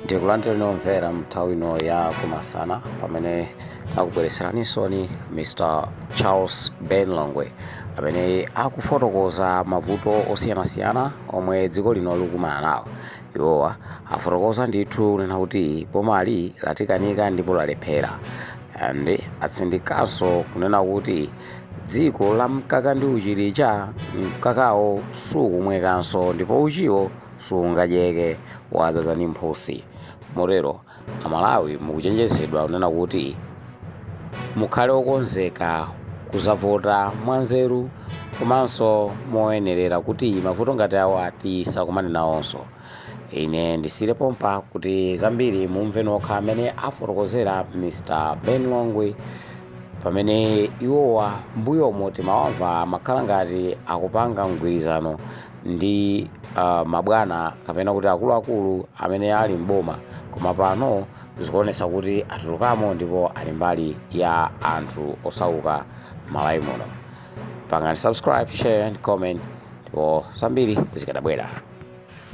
ndikulandireni omvera nthawi ino ya kumasana pamene akubweretseraninso ndi mr charles ben longwe amene akufotokoza mavuto osiyanasiyana omwe dziko lino likumana nawo iwowa afotokoza ndithu kunena kuti bomali latikanika ndipo lalephera and atsindikanso kunena kuti Dziko la mkaka ndi uchi lija, mkakawo sukumwekanso ndipo uchiwo sungadyeke, wadzadza ndi mphutsi. Motero Amalawi mukuchenjezedwa kunena kuti mukhale okonzeka kudzavota mwanzeru komanso moyenerera kuti mavuto ngati awa tisakumane nawonso. ine ndisiyire pompa kuti zambiri mumve nokha amene afotokozera mr ben longwe pamene iwowa mbuyomo timawamva amakhala ngati akupanga mgwirizano ndi uh, mabwana kapena kuti akuluakulu amene ali mboma koma pano zikuonetsa kuti atulukamo ndipo ali mbali ya anthu osauka malawi muno pangani subscribe share and comment ndipo zambiri zikadabwera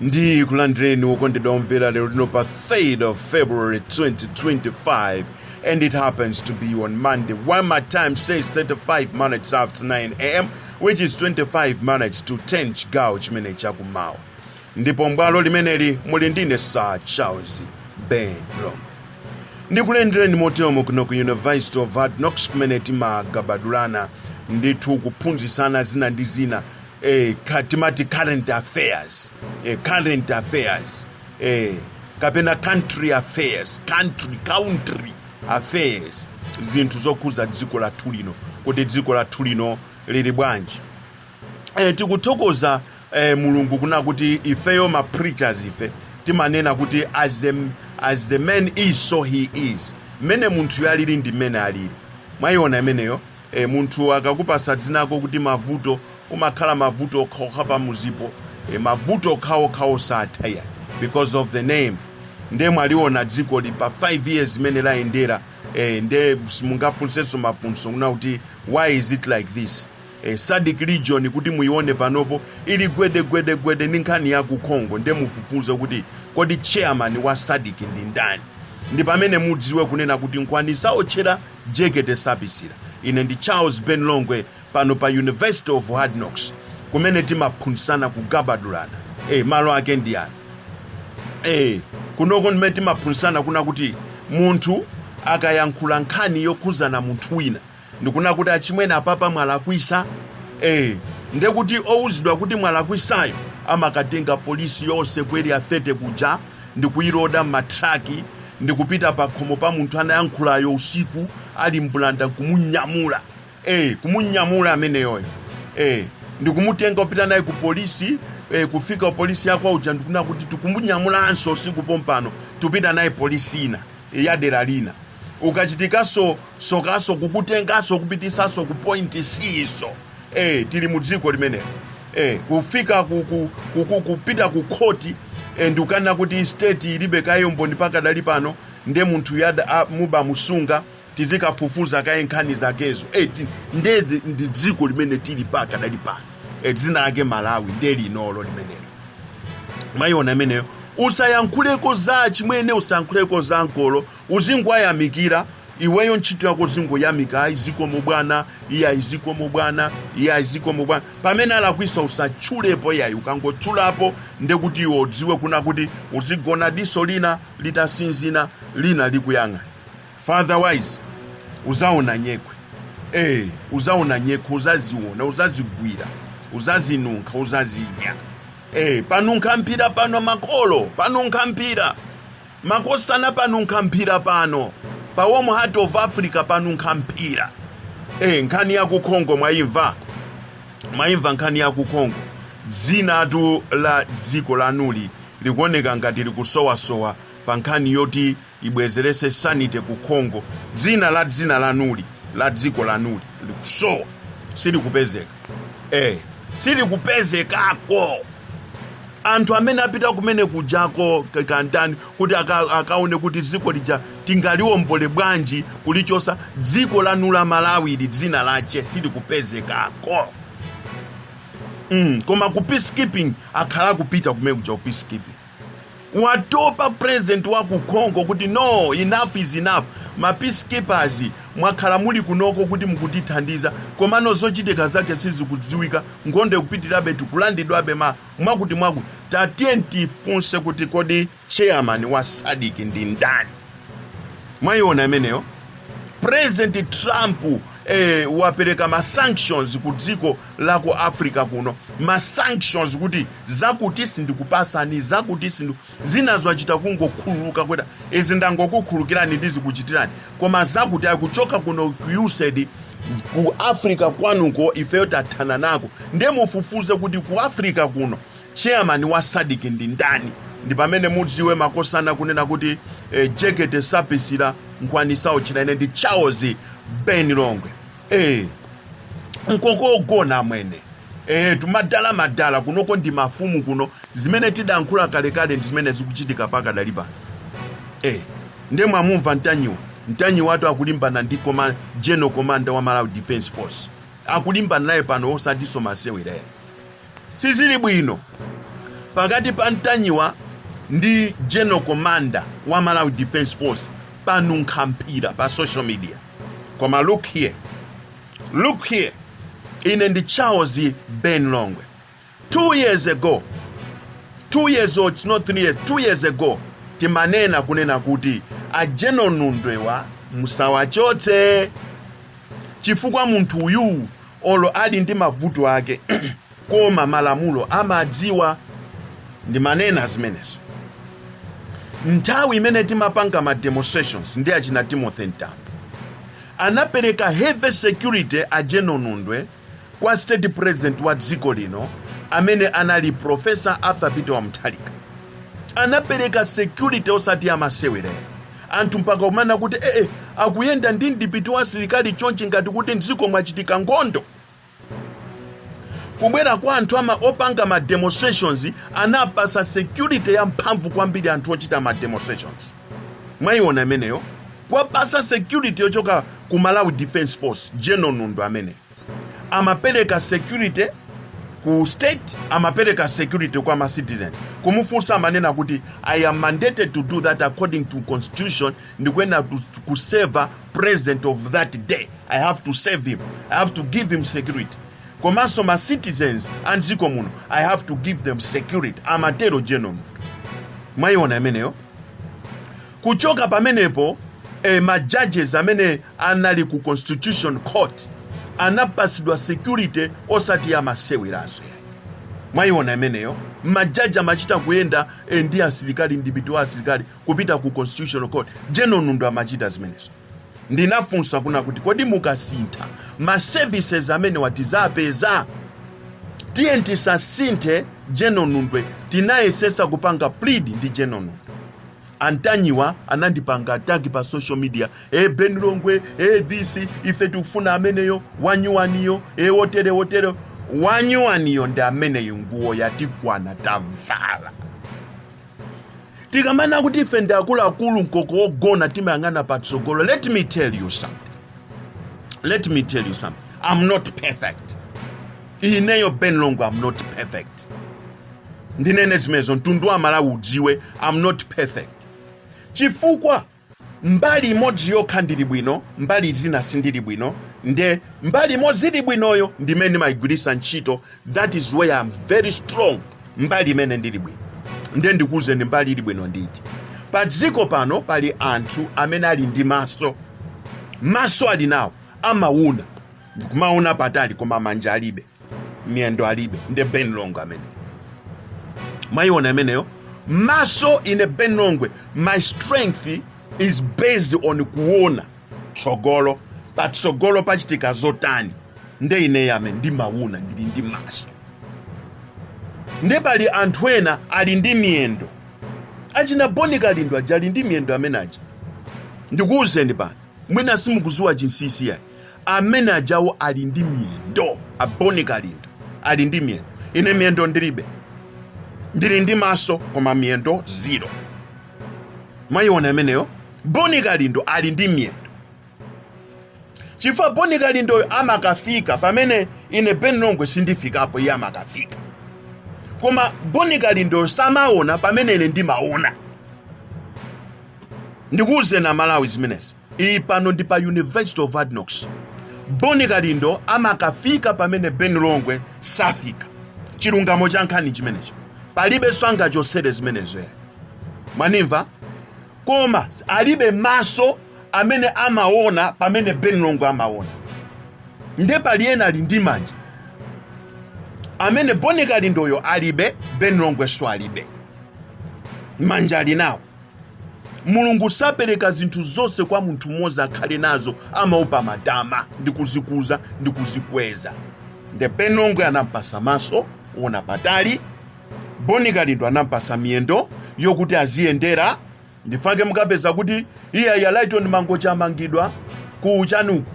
ndikulandireni okondedwa omvera lero lino pa 3rd of february 2025 and it happens to be on monday when my time says 35 minutes after 9 am which is 25 minutes to 10 chigawo chimene chakumawa ndipo mbwalo limeneli muli ndine sir charles ben longwe ndikulandireni motero kuno ku university of hard knocks kumene timagabadulana ndithu kuphunzitsana zina ndi zina eh, timati current affairs eh, current affairs eh, kapena country affairs country country affairs zinthu zokhuza dziko lathu lino kuti dziko lathu lino lili bwanji eh, tikuthokoza eh, mulungu kuna kuti ifeyo ma preachers ife timanena kuti as the, as the man is so he is mmene munthuyo alili ndi mmene alili mwayiona imeneyo E, munthu akakupatsa dzina lako kuti mavuto umakhala mavuto okhaokha pamudzipo e, mavuto okhaokha osatha yeah because of the name nde mwaliona dzikoli pa 5 years imene layendera e, nde simungafunsenso mafunso kuna kuti why is it like this e, sadc region kuti muione panopo ili gwedegwedegwede ndi nkhani ya ku congo nde mufufuze kuti kodi chairman wa sadc ndi ndani ndi pamene mudziwe kunena kuti nkhwani saotchera jekete sapisira ine ndi charles ben longwe pano pa university of hard knocks kumene timaphunzitsana kugabadulana e, malo ake ndi ano e, kunoko ndimene timaphunzitsana kuna kuti munthu akayankhula nkhani yokhuzana munthu wina ndikuna kuti achimwene apapa mwalakwisa e, ndekuti owuzidwa kuti mwalakwisayo amakatenga polisi yonse ku area 30 kuja ndikuiloda mma truck ndikupita pakhomo pa munthu anayankhulayo usiku ali mbulanda kumunyamula eh, kumunyamula ameneyoyo eh, ndikumutenga kupita naye ku polisi eh, kufika polisi yakwa uja ndikuna kuti tikumunyamulanso usiku pompano tikupita naye polisi ina eh, ya dera lina ukachitikanso sokaso kukutengaso kupitisaso ku point c-so eh, tili mu dziko limenelo eh, kufika ku, ku, ku, ku, kupita ku khoti eh, ndikukanena kuti state ilibe kaye umboni pakadali pano nde munthu yada a- muba musunga tizikafufuza kaye nkhani zakezo eh, ti- nde ndi- ndi dziko limene tili pakadali pano eh, dzina lake malawi nde linolo limenelo mwayiona imeneyo usayankhuleko za chimwene usayankhuleko za makolo Uzingowayamikira, iweyo ntchito yako uzingoyamika, ayi zikomo bwana, iye ayi zikomo bwana, iye ayi zikomo bwana. Pamene alakwisa usatchulepo iyayi, ukangotchulapo ndekuti iwe udziwe kuna kuti uzigona diso lina litasinzina lina likuyang'ana. For otherwise uzaona nyekhwe. Eh, uzaona nyekhwe, uzaziona, uzazigwira, uzazinunkha, uzazidya. Eh, panunkha mphira pano makolo, panunkha mphira. Makosana panunkha mphira pano pa warm heart of Africa panunkha mphira eh nkhani ya ku Congo mwaimva mwaimva nkhani ya ku Congo dzinatu la dziko lanuli likuoneka ngati likusowasowa pa nkhani yoti ibwezerese sanity ku Congo dzina la dzina lanuli la dziko lanuli likusowa silikupezeka eh silikupezekako anthu amene apita kumene kujako ka- kandani kuti aka, akaone kuti dziko lija tingaliombole bwanji kulichosa dziko lanu la malawi ili dzina lache silikupezekako mm, koma ku peacekeeping akhala akupita kumene kuja ku peacekeeping watopa president wa ku congo kuti no enough is enough ma peacekeepers mwakhala muli kunoko kuti mukutithandiza komano zochitika zake sizikudziwika nkhondo ikupitirabe tikulandidwabe ma mwakuti mwakuti tatiye tifunse kuti kodi chairman wa sadc ndi ndani mwayiona imeneyo president trump eh, wapereka ma sanctions ku dziko la ku africa kuno ma sanctions kuti zakuti sindikupasani zakuti sindu zinazo achita kungokhululuka kuti izi ndangokukhulukirani ndizikuchitirani koma zakuti akuchoka kuno ku usaid ku africa kwanuko ifeyo tathana nako ndiye mufufuze kuti ku africa kuno chairman wa sadik ndi ndani ndi pamene mudziwe makosana kunena kuti eh, jekete sapisira mkhwapa sawotchera ine ndi charles ben longwe eh nkoko ogona amwene eh tumadala madala kunoko ndi mafumu kuno zimene tidankhula kalekale ndi zimene zikuchitika paka dali pano eh nde mwamumva ntanyiwa ntanyiwatu akulimbana ndi general commander wa malawi defense force akulimbana naye pano osatinso masewera ayi sizili bwino pakati pa ntanyiwa ndi general commander wa malawi defense force panunkha mphira pa social media koma look here look here ine ndi charles ben longwe two years ago two years old it's not three years two years ago timanena kunena kuti a general nundwewa musawachotse chifukwa munthu uyu olo ali ndi mavuto ake koma malamulo amadziwa ndimanena zimenezo nthawi imene timapanga ma demonstrations ndi achina timothy mtambo anapereka heavy security a general nundwe kwa state president wa dziko lino amene anali professor arthur peter wa mutharika anapereka security osati yamasewerayo anthu mpaka kumanena kuti ee akuyenda ndi mdipiti wa asilikali chonchi ngati kuti mdziko mwachitika nkhondo kubwera kwa anthu ama opanga ma demonstrations anawapatsa security ya mphamvu kwambiri anthu ochita ma demonstrations mwayiona imeneyo kuwapatsa security yochoka ku malawi defense force general nundwe amene amapereka security ku state amapereka security kwa ma citizens kumufunsa amanena kuti i am mandated to do that according to constitution ndikuyenera ku- kuseva president of that day i have to serve him i have to give him security komanso ma citizens a mdziko muno i have to give them security amatero general nundwe mwayiona imeneyo kuchoka pamenepo eh, ma judges amene anali ku constitution court anapatsidwa security osati yamaseweranso yayi mwayiona imeneyo majaji amachita kuyenda eh, ndi asilikali ndi mdipiti wa asilikali kupita ku constitutional court general nundwe amachita zimenezo ndinafunsa kunena kuti kodi mukasintha ma services amene watizapeza tiyeni tisasinthe general nundwe tinayesesa kupanga plead ndi general nundwe a ntanyiwa anandipanga ataki pa social media e ben longwe e this ife tikufuna ameneyo wanyuwaniyo e wotere wotere wanyuwaniyo ndi ameneyo nguwo yatikwana tavala tikamanena kuti ife ndi akuluakulu mkoko wogona timayang'ana patsogolo let me tell you something let me tell you something i'm not perfect ineyo ben longwe i'm not perfect ndinene zimenezo mtundu wa amalawi udziwe i'm not perfect chifukwa mbali imodzi yokha ndili bwino, mbali zina sindili bwino, nde mbali imodzi ili bwinoyo ndi imene ndimayigwiritsa ntchito, that is where I'm very strong, mbali imene ndili bwino. Nde ndikuwuzeni mbali ili bwino ndi iti. Pa dziko pano pali anthu amene ali ndi maso, maso ali nawo amawona, kumaona patali koma manja alibe. miyendo alibe nde ben longwe amene mwayiona imeneyo maso ine ben longwe my strength is based on kuona tsogolo patsogolo pachitika zotani nde ineyo amene ndimawona ndili ndi maso nde pali anthu ena ali ndi miyendo achina boni kalindo aja ali ndi miyendo amene aja ndikuwuzeni pano mwina simukuziwa chinsinsi yayi amene ajawo ali ndi miyendo aboni kalindo ali ndi miyendo ine miyendo ndilibe ndili ndi maso koma miyendo zero mwayiona imeneyo boni kalindo ali ndi miyendo chifukwa boni kalindoyo amakafika pamene ine ben longwe sindifikapo iye amakafika koma boni kalindoyo samaona pamene ine ndimaona ndikuwuzeni amalawi zimenezi Iyi pano ndi pa University of Hard Knocks. Boni Kalindo amakafika pamene Ben Longwe safika. Chilungamo cha nkhani chimenecho. Palibe zonga chotsera zimenezo. eya. Mwanimva? Koma alibe maso amene amaona pamene Ben Longwe amaona. Nde pali ena ali ndi manja. Amene Boni Kalindoyo alibe, Ben Longwe nso alibe. Manja ali nawo. mulungu sapereka zinthu zonse kwa munthu mmodzi akhale nazo amaopa matama ndi kuzikuza ndi kuzikweza nde ben longwe anampasa maso oona patali boni kalindo anampasa miyendo yokuti aziyendera nchifukwa chake mukapeza kuti iyeyu a lighton mangochi wamangidwa ku ujeni uku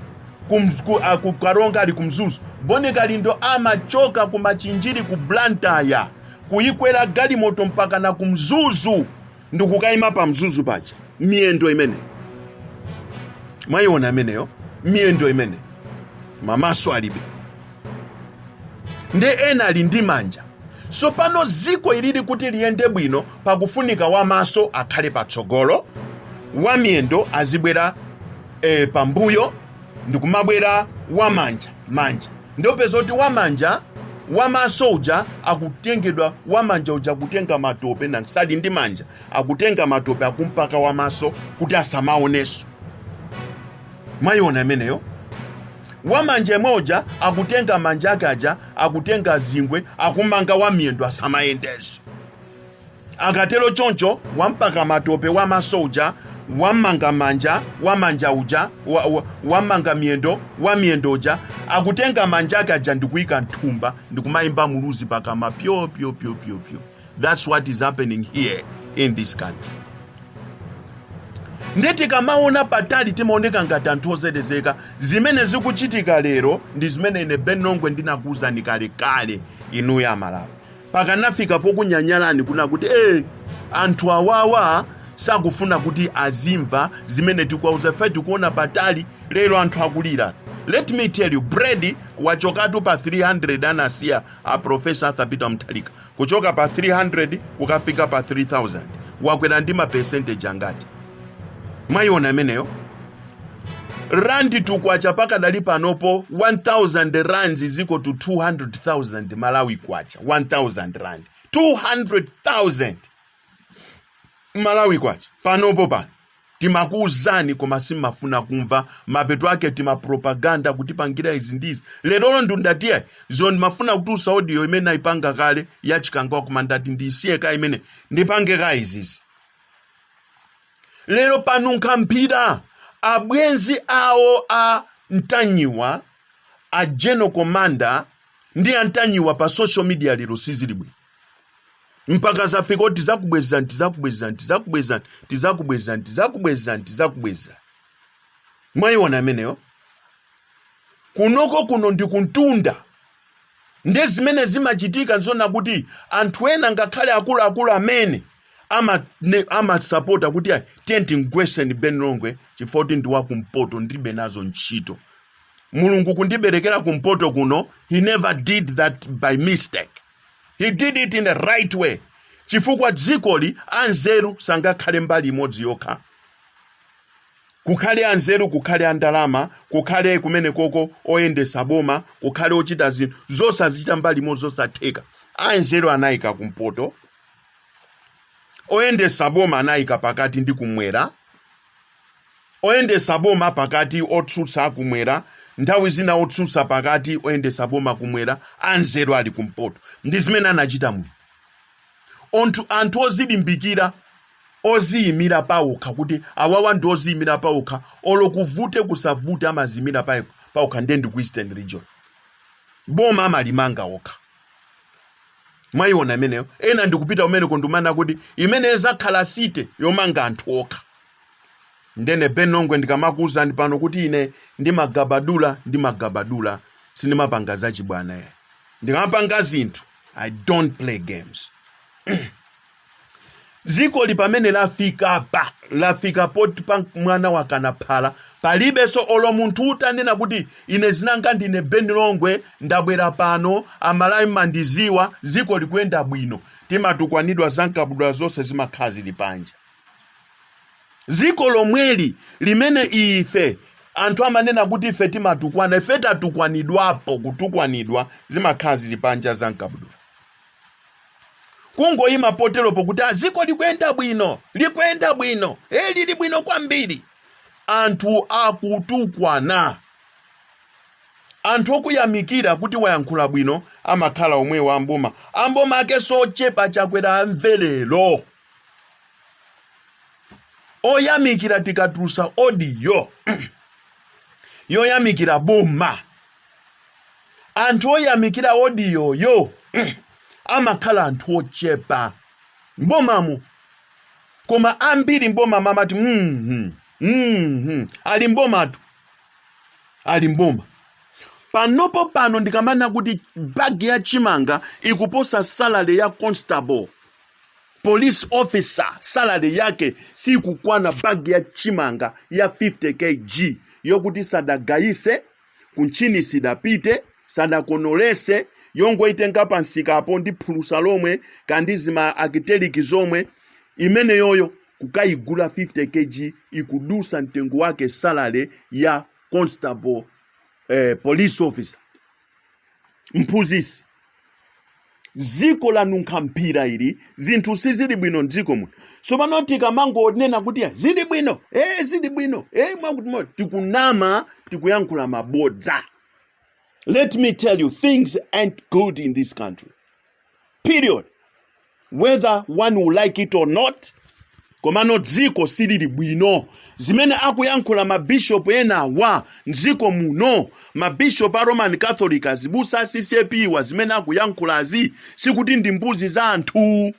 kumz- ku- ah, ku karonga ali kumzuzu boni kalindo amachoka kumachinjiri ku blantaya kuyikwera galimoto mpakana ku mzuzu ndikukayima pa mzuzu paja miyendo imene mwayiona imeneyo miyendo imene mamaso alibe nde ena ali ndi manja sopano dziko ilili kuti liyende bwino pakufunika wamaso akhale patsogolo wamiyendo azibwera e, pambuyo ndikumabwera wamanja manja ndiopeza kuti wamanja wamaso uja akutengedwa wamanja uja akutenga matope naye ali ndi manja akutenga matope akumpaka wamaso kuti asamaoneso mwayiona imeneyo wamanja yemwe uja akutenga manja ake aja akutenga zingwe akumanga wamiyendo asamayendeso akatero choncho wampaka matope wa maso uja wammanga manja wa manja uja wa- wa- wammanga miyendo wa miyendo uja akutenga manja ake aja ndikuyika mthumba ndikumayimba muluzi pakama pyo pyo pyo pyo pyo that's what is happening here in this country nde tikamaona patali timaoneka ngati anthu ozelezeka zimene zikuchitika lero ndi zimene ine ben longwe ndinakuwuzani kalekale inuyo amalawi mpakana kufika pokunyanyalani kuna kuti e anthu awawa sakufuna kuti azimva zimene tikuwauza fe tikuona patali lero anthu akulira let me tell you bread wachokatu pa 300 anasiya a profesa arthur peter mutharika kuchoka pa 300 kukafika pa 3000 wakwera ndi ma percentage angati mwayiona imeneyo rand to kwacha pakadali panopo 1000 rands is equal to 200000 malawi kwacha 1000 rand 200000 malawi kwacha panopo pano timakuuzani koma simafuna kumva mapeto ake timapropaganda kutipangira izi ndizi lerolo ndiye ndatiya izo ndimafuna kutusa audio imene naipanga kale yachikangawa koma ndati ndisiye ka imene ndipange ka izizi lero panunkha mphira abwenzi awo a mtanyiwa a general commander ndi a mtanyiwa pa social media lero sizili bwino mpaka zafika kuti tizakubwezani tizakubwezani tizakubwezani tizakubwezani tizakubwezani tizakubwezani mwayiona ameneyo kunoko kuno ndi kumtunda Ndiye zimene zimachitika nzona kuti anthu ena ngakhale akuluakulu amene ama- ne- amasapota kuti tiyeni timgweseni ben longwe chifukwa kuti ndi wakumpoto ndilibe nazo ntchito mulungu kundiberekera kumpoto kuno he never did that by mistake he did it in the right way chifukwa dzikoli anzeru sangakhale mbali imodzi yokha Kukhale anzeru, kukhale a ndalama, kukhale kumenekoko oyendesa boma, kukhale ochita zinthu, zosazichita mbali imodzi zosatheka. Anzeru anayika kumpoto, oyendesa boma anayika pakati ndi kumwera, oyendesa boma pakati, otsutsa kumwera, nthawi zina otsutsa pakati, oyendesa boma kumwera, anzeru ali kumpoto. Ndi zimene anachita muno. Onthu, anthu ozilimbikira, oziyimira paokha kuti awawa ndi oziyimira paokha olo kuvute kusavute amaziyimira paokha ndiye ndi ku eastern region boma amalimanga okha mwayiona imeneyo ena ndikupita kumeneko ndumana kuti imene izakhala site yomanga anthu okha ndine Ben Longwe ndikamakuwuzani pano kuti ine ndimagabadula ndimagabadula sindimapanga zachibwana ayi ndikamapanga zinthu i don't play games dziko ili pamene lafika pa lafika poti pa mwana wakana phala palibenso olo munthu utanena kuti ine zinanga ndine ben longwe ndabwera pano amalawi mandiziwa dziko likuyenda bwino timatukwanidwa za mkabudula zonse zimakhala zili panja Dziko lomweli limene ife. Anthu amanena kuti ife timatukwana, ife tatukwanidwapo, kutukwanidwa, zimakhala ziri panja za mkabudula. Kungoyima poteropo kuti ah, dziko likuyenda bwino, likuyenda bwino, e, lili bwino kwambiri. Anthu akutukwana. Anthu okuyamikira kuti wayankhula bwino amakhala omwewo amboma. A boma ake sochepa chakwera amve lero. oyamikira tikatulusa odiyo yoyamikira boma anthu oyamikira odiyoyo amakhala anthu ochepa mbomamu koma ambiri mboma amati mm -hmm, ali mbomatu ali mboma panopo pano ndikamanena kuti bagi ya chimanga ikuposa salary ya constable police officer salary yake sikukwana bag ya chimanga ya 50 kg yokuti sadagayise kumtchini sidapite sadakonolese yongoitenga pansikapo ndi phulusa lomwe kaya ndi zima akiteliki zomwe imeneyoyo kukayigula 50 kg ikudusa mtengo wake salary ya constable eh, police officer mphunzitsi dziko lanunkha mphira ili zinthu sizili bwino mdziko muno tsopano tikamangonena kuti "Ah, zili bwino ee zili bwino ee mwakuti mwa-" tikunama tikuyankhula mabodza let me tell you things ain't good in this country period whether one will like it or not komano dziko silili bwino zimene akuyankhula mabishopu enawa mdziko muno mabishopu a roman catholic azibusa a ccap wa zimene akuyankhulazi sikuti ndi mbuzi zawanthu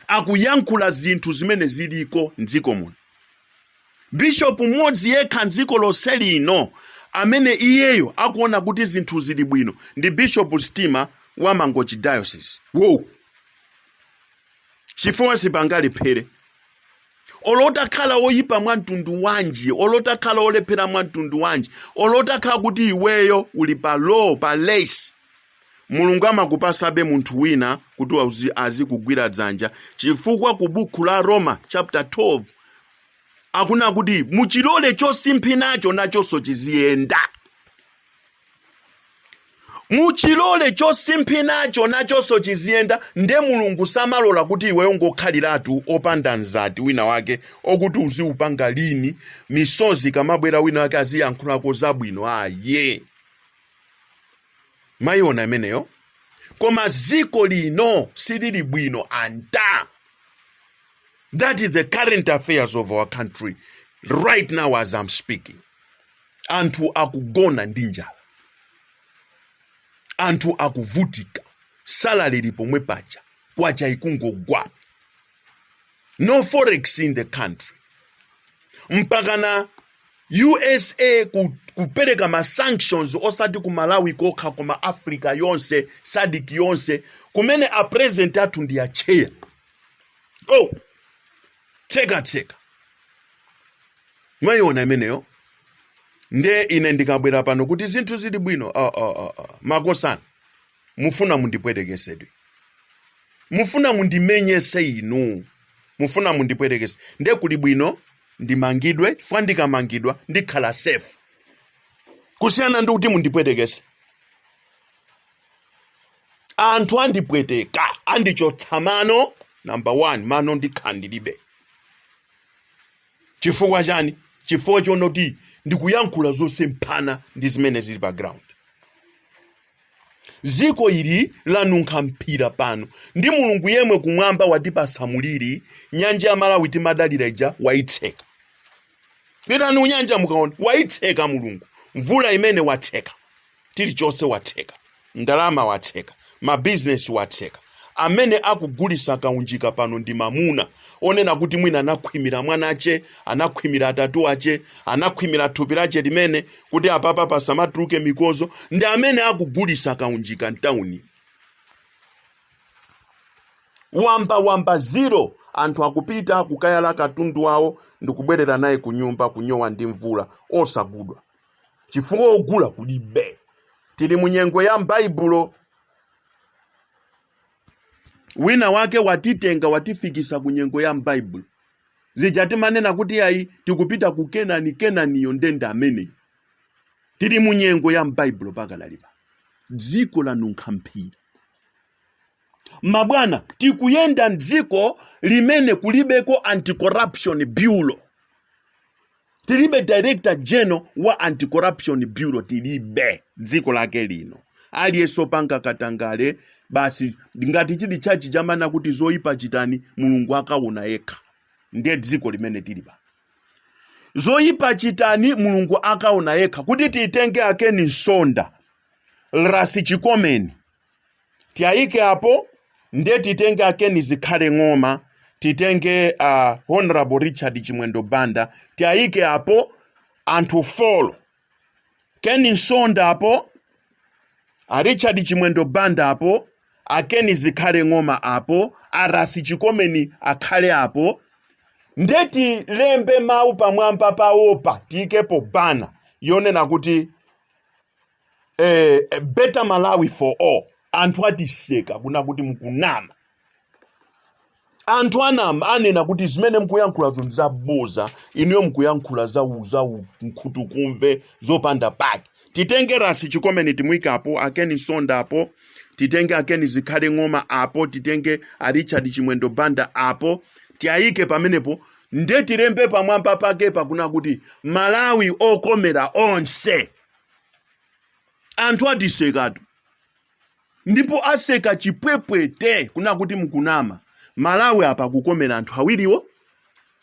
akuyankhula zinthu zimene ziliko mdziko muno bishopu mmodzi yekha m'dziko lonse lino amene iyeyo akuona kuti zinthu zili bwino ndi bishopu stima wa mangochi diocese wow chifukwa sipangalephere olo utakhala woyipa mwa mtundu wanji olo utakhala wolephera mwa mtundu wanji olo utakhala kuti iweyo uli pa low pa less mulungu amakupasabe munthu wina kuti azikugwira dzanja chifukwa ku bukhu la roma chapter 12 akunena kuti muchilole chosimphinacho nachonso chiziyenda muchilole chosimphinacho nachonso chiziyenda nde mulungu samalola kuti iwe ungokhaliratu opanda mzati wina wake okuti uziupanga lini misozi kamabwera wina wake aziyankhulako zabwino aye mwayiona imeneyo koma ziko lino silili bwino anta That is the current affairs of our country right now as I'm speaking. Anthu akugona ndi njala, anthu akuvutika, salary ili pomwe paja, kwacha ikungogwa, no forex in the country, mpakana USA kupereka ma sanctions osati ku Malawi kokha koma Africa yonse, SADC yonse, kumene a president athu ndi a chair. oh tseka tseka mwayiona imeneyo nde ine ndikabwera pano kuti zinthu zili bwino oh, oh, oh, oh. makosana mufuna mundipwetekesedwe mufuna mundimenyese inu mufuna mundipwetekese nde kuli bwino ndimangidwe chifukwa ndikamangidwa ndikhala safe kusiyana ndi kuti mundipwetekese anthu andipweteka andichotsa mano number one mano ndikhala ndilibe chifukwa chani chifukwa chonoti ndikuyankhula zosemphana ndi zimene zili pa ground dziko ili lanunkha mphira pano ndi mulungu yemwe kumwamba watipasa muliri nyanja ya malawi timadalira ija waitseka pitani kunyanja mukaona waitseka mulungu mvula imene watseka chilichonse watseka ndalama watseka mabizinesi watseka amene akugulisa kaunjika pano ndi mamuna onena kuti mwina anakhwimira mwana ache anakhwimira atate ache anakhwimira thupi lache limene kuti apapa pasamatuluke mikozo ndi amene akugulisa kaunjika mtauni wamba wamba zero anthu akupita kukayala katundu wawo ndikubwerera naye ku nyumba kunyowa ndi mvula osagudwa chifukwa ogula kulibe tili mu nyengo ya m'baibulo wina wake watitenga watifikisa ku nyengo ya m'baibulo zija timanena kuti ayi tikupita ku kenani kenaniyo ndende ameneyo tili mu nyengo ya m'baibulo pakanalipa dziko lanunkha mphira mabwana tikuyenda mdziko limene kulibeko anti-corruption bureau tilibe director general wa anti-corruption bureau tilibe dziko lake lino aliyense opanga katangale basi ngati chili tchachi chamana kuti zoyipa chitani mulungu akaona yekha ndiye dziko limene tili pa zoyipa chitani mulungu akaona yekha kuti titenge akeni msonda rasi chikomeni tiayike apo nde titenge akeni zikhale ng'oma titenge uh, honorable richard chimwendo banda tiayike apo anthu folo keni msonda apo a richard chimwendo banda apo akeni zikhale ng'oma apo arasi chikomeni akhale apo nde tilembe mawu pamwamba pawopa tiyikepo bana yonena kuti eh, a better malawi for all anthu atiseka kuna kuti mkunama anthu anama anena kuti zimene mkuyankhulazo ndi zaboza inuyo mkuyankhula za u- za nkhutukumve zopanda pake titenge rasi chikomeni timwike apo akeni msonda apo titenge akeni zikhale ng'oma apo titenge a richard chimwendo banda apo tiyayike pamenepo nde tilembe pamwamba pake pakuna kuti malawi okomera onse anthu atisekatu ndipo aseka chipwepwete kuna kuti mkunama malawi apa akukomera anthu awiriwo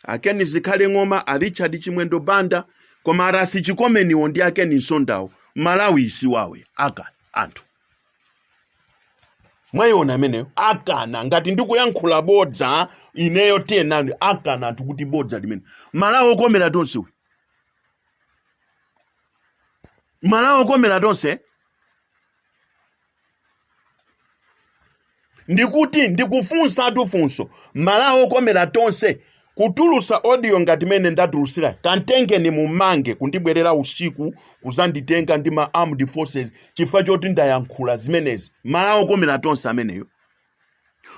akeni zikhale ng'oma a richard chimwendo banda koma arasi chikomeniwo ndi akeni msondawo malawi si wawo aka anthu mwayiona ameneyo akana ngati ndikuyankhula bodza ineyo tiyenani akana anthu kuti bodza limene malawi okomera tonse uyu malawi wokomera tonse ndikuti ndikufunsatu funso malawi okomera tonse kutulusa audio ngati mene ndatulutsira kamtengeni mumange kundibwerera usiku kuzanditenga ndi ma armed forces chifukwa choti ndayankhula zimenezi malawi okomera tonse ameneyo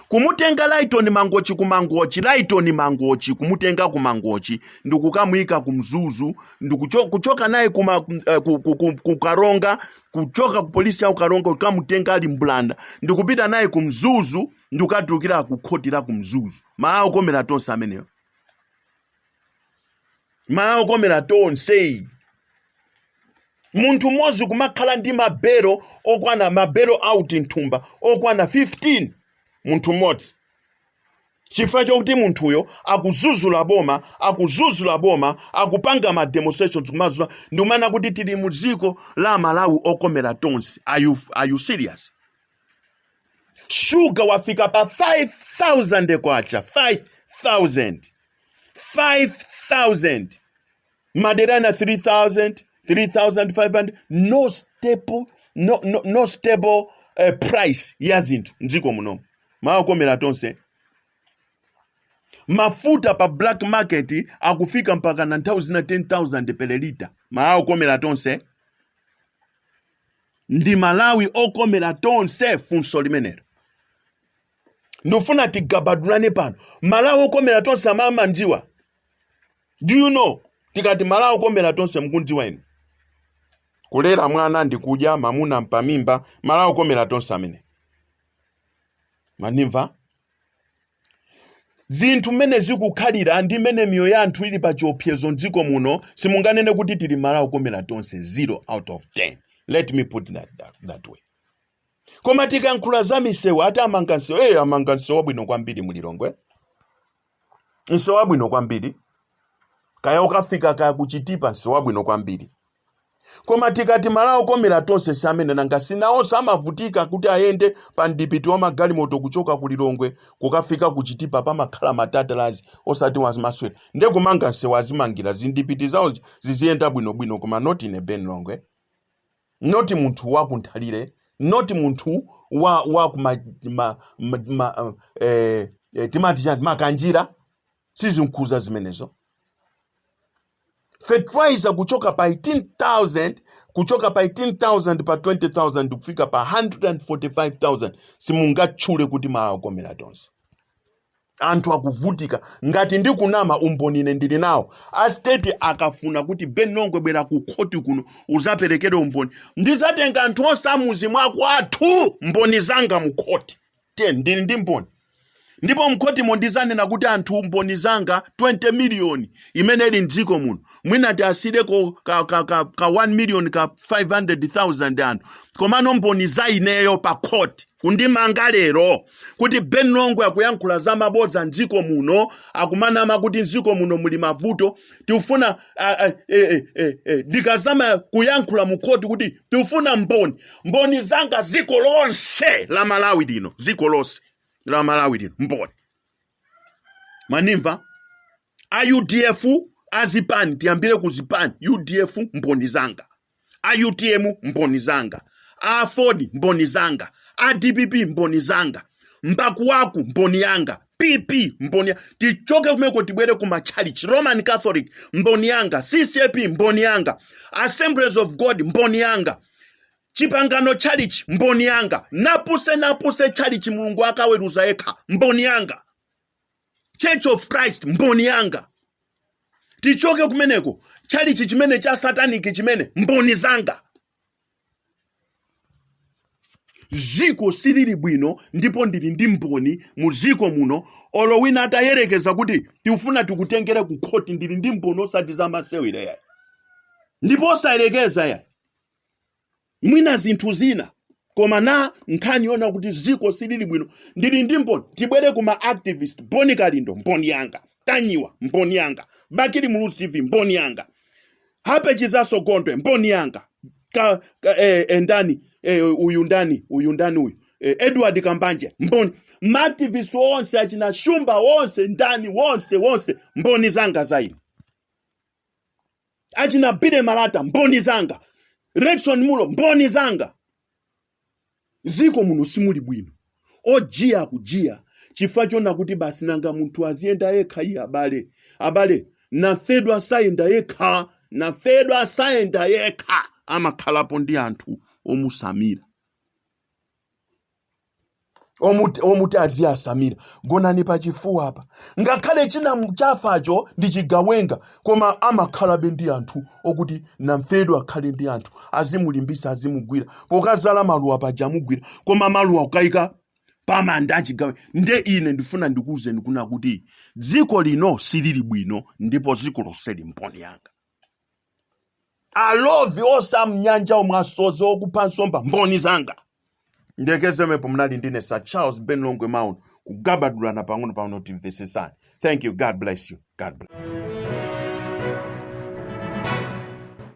kumutenga Lyton Mangochi, Lyton Mangochi, Lyton Mangochi kumutenga ku Mangochi ndikukamuyika ku Mzuzu ndikucho, kuchoka naye kuma, uh, ku, ku, ku, ku Karonga kuchoka ku polisi ya ku Karonga kukamutenga ali mbulanda ndikupita naye ku Mzuzu ndikukatulukira ku khoti la ku Mzuzu. Malawi okomera tonse ameneyo. malawi okomera tonse munthu mmodzi kumakhala ndi mabelo okwana ma bail out mthumba okwana 15 munthu mmodzi chifukwa chokuti munthuyo akuzuzula boma akuzuzula boma akupanga ma demonstrations kumadzuka ndikumanena kuti tili mu dziko la malawi okomera tonse are you, are you serious shuga wafika pa 5000 kwacha 5000 5000 madera ena 3000 3500 no stable no, no, no stable uh, price ya zinthu mdziko muno malawi okomera tonse mafuta pa black market akufika mpaka na nthawi zina 10000 per lita malawi okomera tonse ndi malawi okomera tonse funso limenero ndikufuna tigabadulane pano malawi okomera tonse mumamdziwa do you know tikati malawi okomera tonse mkundziwa inu kulera mwana ndi kudya mamuna mpamimba malawi okomera tonse amene mwandimva zinthu mmene zikukhalira ndi mmene miyoyo ya anthu ili pa chiopsezo mdziko muno simunganene kuti tili mmalawi okomera tonse zero out of 10 let me put that, that, that way koma tikalankhula za misewu ati amanga msewu eyi amanga msewu wabwino kwambiri mulilongwe msewu wabwino kwambiri kaya ukafika kaya kuchitipa msewu wabwino kwambiri koma tikati malawi okomera tonse si ameneyo nanga si nawonso amavutika kuti ayende pa mdipiti wa magalimoto kuchoka ku lilongwe kukafika kuchitipa pamakhala ma Tata Lauzi osati azimaswera nde kumanga msewu azimangira zimdipiti zawo ziziyenda bwinobwino koma not in a ben longwe not munthu wa ku Nthalire, not munthu wa wa ku ma, ma, ma, ma, eh, eh, timati chani makanjira sizimkhuza zimenezo fertilizer kuchoka pa 18000 kuchoka pa 18000 pa 20000 kufika pa 145000 simungatchule kuti malawi okomera tonse anthu akuvutika ngati ndikunama umboni ine ndili nawo a state akafuna kuti ben longwe bwera ku khoti kuno uzaperekere umboni ndizatenga anthu onse amudzi mwakwathu mboni zanga mu khoti ndili ndi mboni ndipo mkhotimo ndizanena kuti anthu mboni zanga 20 miliyoni imene ili mdziko muno mwina tiasireko ka, ka, ka, ka 1 miliyoni ka 500000 anthu komano mboni za ineyo pa khoti kundimanga lero kuti Ben Longwe akuyankhula za mabodza mdziko muno akumanama kuti mdziko muno muli mavuto tifuna a- a- e- e- e- e, ndikazama kuyankhula mu khoti kuti tifuna mboni mboni zanga dziko lonse la Malawi lino dziko lonse la Malawi lino mboni manimva a udf azipani tiyambire ku zipani udf mboni zanga a utm mboni zanga a aford mboni zanga a dpp mboni zanga mbakuwaku mboni yanga pp mboni ya- tichoke kumeko tibwere ku machalichi roman catholic mboni yanga ccap mboni yanga assemblies of god mboni yanga chipangano chalichi mboni yanga napuse napuse chalichi mulungu akaweruza yekha mboni yanga church of christ mboni yanga tichoke kumeneko chalichi chimene cha sataniki chimene mboni zanga ziko silili bwino ndipo ndili ndi mboni mu ziko muno olo wina atayerekeza kuti tifuna tikutengere ku khoti ndili ndi mboni osati za masewera ya ndipo osayerekeza ya mwina zinthu zina koma na nkhani yona kuti ziko silili bwino ndili ndi mboni tibwere kuma activist boni kalindo mboni yanga tanyiwa mboni yanga bakili muluzi tv mboni yanga happy chizaso gondwe mboni yanga ka, ka, eh, eh, ndani eh, uyu ndani uyu ndani uyu eh, edward kambanje mboni maactivist wonse achina shumba wonse ndani wonse wonse mboni zanga zaini achina billy malata mboni zanga redson munlo mboni zanga ziko muno simuli bwino ojiya akujiya chifukwa chona kuti basi nanga munthu aziyenda yekha iye abale abale namfedwa sayenda yekha namfedwa sayenda yekha amakhalapo ndi anthu omusamira omuti omuti aziyasamira gonani pa chifuwa apa ngakhale china chafacho ndi chigawenga koma amakhalabe ndi anthu okuti namfedwa akhale ndi anthu azimulimbisa azimugwira pokazala maluwa paja amugwira koma maluwa kukaika pamanda achigawe nde ine ndifuna ndikuwuzeni kuna kuti dziko lino silili bwino ndipo dziko lonseli mboni yanga alovi onse amnyanja omwe asodzi okupha nsomba mboni zanga ndekezemepo mnali ndine sir charles ben longwe maun kugabadulana pang'ono pang'ono timvesesani thank you god bless you god bless